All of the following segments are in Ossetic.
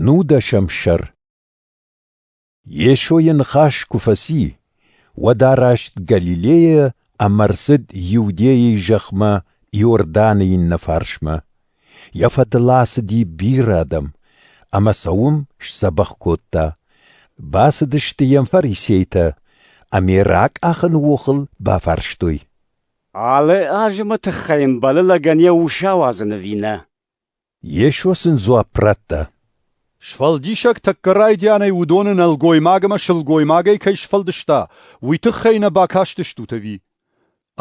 Нудӕсӕм сӕр Йесойы ныхас куы фӕци, уӕд араст Галилейӕ ӕмӕ рцыд Иудейы зӕхмӕ Иорданы иннӕ фарсмӕ. Йӕ фӕдыл ацыди бирӕ адӕм, ӕмӕ сӕ уым сдзӕбӕх кодта. Бацыдысты йӕм фарисейтӕ, ӕмӕ ракъахыны охыл бафарстой. Алы азымы тыххӕй йын балы лӕгӕн йӕ ус ауадзын ӕви нӕ? Йесо сын дзуапп радта. Сфӕлдисӕг тӕккӕ райдианӕй уыдоны нӕлгоймаг ӕмӕ сылгоймагӕй кӕй сфӕлдыста, уый тыххӕй нӕ бакастыстут ӕви?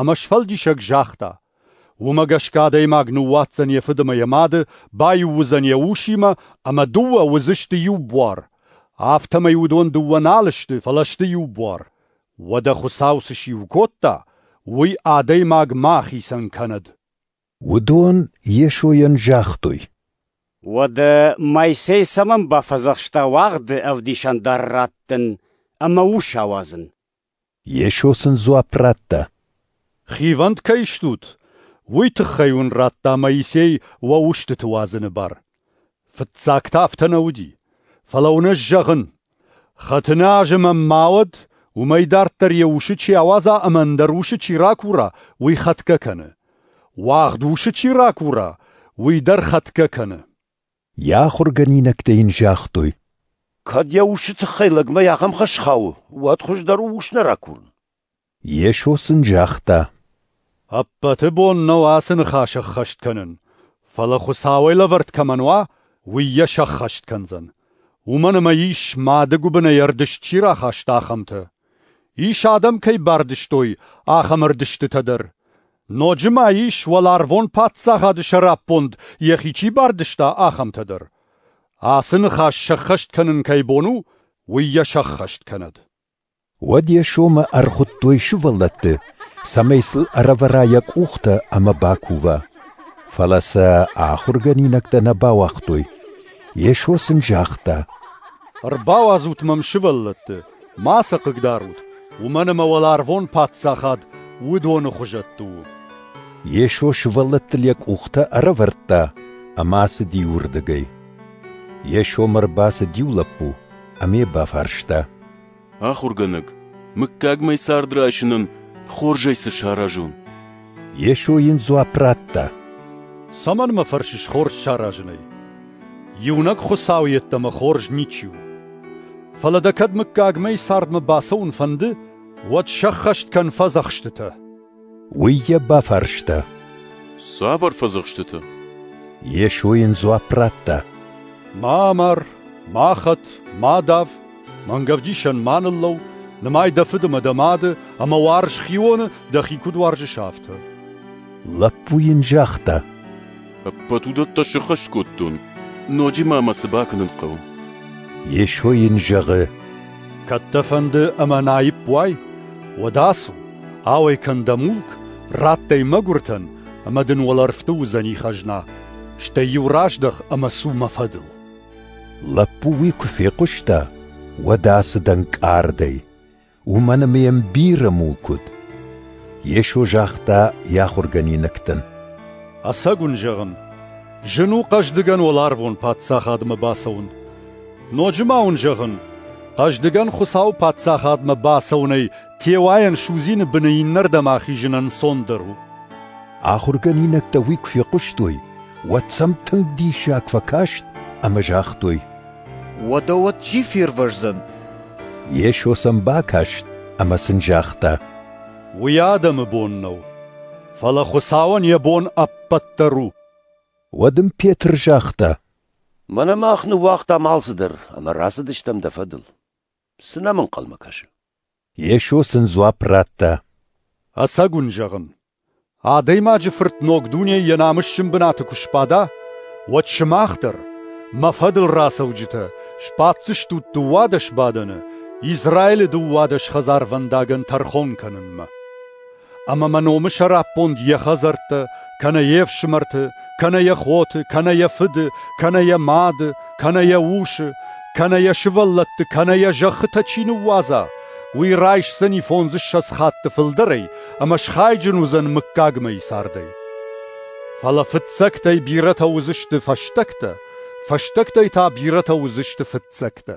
Ӕмӕ сфӕлдисӕг загъта: Уымӕ гӕсгӕ адӕймаг ныууадздзӕн йӕ фыды ӕмӕ йӕ мады, баиу уыдзӕн йӕ усимӕ, ӕмӕ дыууӕ уыдзысты иу буар. Афтӕмӕй уыдон дыууӕ нал сты, фӕлӕ сты иу буар. Уӕдӕ Хуыцау цы сиу кодта, уый адӕймаг ма хицӕн кӕнӕд. Уыдон Йесойӕн загътой. Уӕдӕ Моисей цӕмӕн бафӕдзӕхста уӕгъды ӕвдисӕндар раттын ӕмӕ ус ауадзын? Йесо сын дзуапп радта. «Хивӕнд кӕй стут, уый тыххӕй уын радта Моисей уӕ устыты уадзыны бар. Фыццаг та афтӕ нӕ уыди, фӕлӕ уынӕс зӕгъын: хӕтыны азы мӕм ма уӕд, уымӕй дарддӕр йӕ усы чи ауадза ӕмӕ ӕндӕр усы чи ракура, уый хӕтгӕ кӕны. уагъд усы чи ракура, уый дӕр хӕтгӕ кӕны. Йӕ ахуыргӕнинӕгтӕ йын загътой: кӕд йӕ усы тыххӕй лӕгмӕ ахӕм хӕс хауы, уӕд хуыздӕр у ус нӕ ракурын. Йесо сын загъта, “Ӕппӕты бон нӕу ацы ныхас ӕххӕст кӕнын, фӕлӕ Хуыцауӕй лӕвӕрд кӕмӕн уа, уый йӕ сӕххӕст кӕндзӕн, уымӕн ӕмӕ ис, мады гуыбынӕй ӕрдыст чи рахаста, ахӕмтӕ. Ис, адӕм кӕй бардызтой, ахӕм ӕрдыстытӕ дӕр. Ноджы ма ис, уӕларвон Паддзахады сӕраппонд йӕхи чи бардызта, ахӕмтӕ дӕр. Ацы ныхас сӕххӕст кӕнын кӕй бон у, уый йӕ сӕххӕст кӕнӕд.” Уӕд йӕ сомы ӕрхуыдтой сывӕллӕтты, цӕмӕй сыл ӕрӕвӕра йӕ къухтӕ ӕмӕ бакува. Фӕлӕ сӕ ахуыргӕнинӕгтӕ нӕ бауагътой. Йесо сын загъта: «Ӕрбауадзут мӕм сывӕллӕтты, ма сӕ хъыгдарут, уымӕн ӕмӕ уӕларвон Паддзахад уыдоны хуызӕтты у». Йесо сывӕллӕттыл йӕ къухтӕ ӕрӕвӕрдта ӕмӕ ацыди уырдыгӕй. Йесомӕ ӕрбацыд иу лӕппу ӕмӕ йӕ бафарста: Ахуыргӕнӕг, мыггагмӕ цард райсынӕн хорзӕй цы саразон? Йесо йын дзуапп радта. Цӕмӕн мӕ фӕрсыс хорз саразынӕй? Иунӕг Хуыцау йеддӕмӕ хорз ничи у. Фӕлӕ дӕ кӕд мыггагмӕ цардмӕ бацӕуын фӕнды, уӕд сӕххӕст кӕн фӕдзӕхстытӕ. Уый йӕ бафарста. Цавӕр фӕдзӕхстытӕ? Йесо йын дзуапп радта. Ма амар, ма хӕт, ма дав, мӕнгӕвдисӕн ма ныллӕу, нымай дӕ фыды мӕ дӕ мады, ӕмӕ уарз хионы, дӕхи куыд уарзыс, афтӕ. Лӕппу йын загъта. Ӕппӕт уыдӕттӕ сыххӕст кодтон. Ноджы ма мӕ цы бакӕнын хъӕуы? Йесо йын зӕгъы, Кӕд дӕ фӕнды ӕмӕ наипп уай, уӕд ацу, ауӕй кӕн дӕ мулк, радтай мӕгуыртӕн, ӕмӕ дын уӕлӕрвты уыдзӕни хӕзна. Стӕй-иу раздӕх ӕмӕ цу мӕ фӕдыл. Лӕппу уый куы фехъуыста, уӕд ацыд ӕнкъардӕй. уымӕн ӕмӕ йӕм бирӕ мулк уыд. Йесо загъта йӕ ахуыргӕнинӕгтӕн. Ӕцӕг уын зӕгъын, зын у хъӕздыгӕн уӕларвон Паддзахадмӕ бацӕуын. Ноджы ма уын зӕгъын, хъӕздыгӕн Хуыцауы Паддзахадмӕ бацӕуынӕй теуайӕн судзины быны иннӕрдӕм ахизын ӕнцондӕр у. Ахуыргӕнинӕгтӕ уый куы фехъуыстой, уӕд сӕм тынг диссаг фӕкаст ӕмӕ загътой: Уӕдӕ уӕд чи фервӕздзӕн? Йесо сӕм бакаст ӕмӕ сын загъта: Уый адӕмы бон нӕу, фӕлӕ Хуыцауӕн йӕ бон ӕппӕт дӕр у. Уӕд ын Петр загъта: Мӕнӕ мах ныууагътам алцыдӕр ӕмӕ рацыдыстӕм дӕ фӕдыл. Цы нӕм ӕнхъӕлмӕ кӕсы? Йесо сын дзуапп радта. Ӕцӕг уын зӕгъын, адӕймаджы Фырт ног дунейы йӕ намысджын бынаты куы сбада, уӕд сымах дӕр, мӕ фӕдыл рацӕуджытӕ, сбаддзыстут дыууадӕс бадӕны Израилы дыууадӕс хӕдзарвӕндагӕн тӕрхон кӕнынмӕ. Ӕмӕ мӕ номы сӕраппонд йӕ хӕдзӕрттӕ, кӕнӕ йе фсымӕрты, кӕнӕ йӕ хоты, кӕнӕ йӕ фыды, кӕнӕ йӕ мады, кӕнӕ йӕ усы, кӕнӕ йӕ сывӕллӕтты, кӕнӕ йӕ зӕххытӕ чи ныууадза, уый райсдзӕни фондзыссӕдз хатты фылдӕрӕй ӕмӕ схайджын уыдзӕн мыггагмӕйы цардӕй. Фӕлӕ фыццӕгтӕй бирӕтӕ уыдзысты фӕстӕгтӕ, фӕстӕгтӕй та бирӕтӕ уыдзысты фыццӕгтӕ.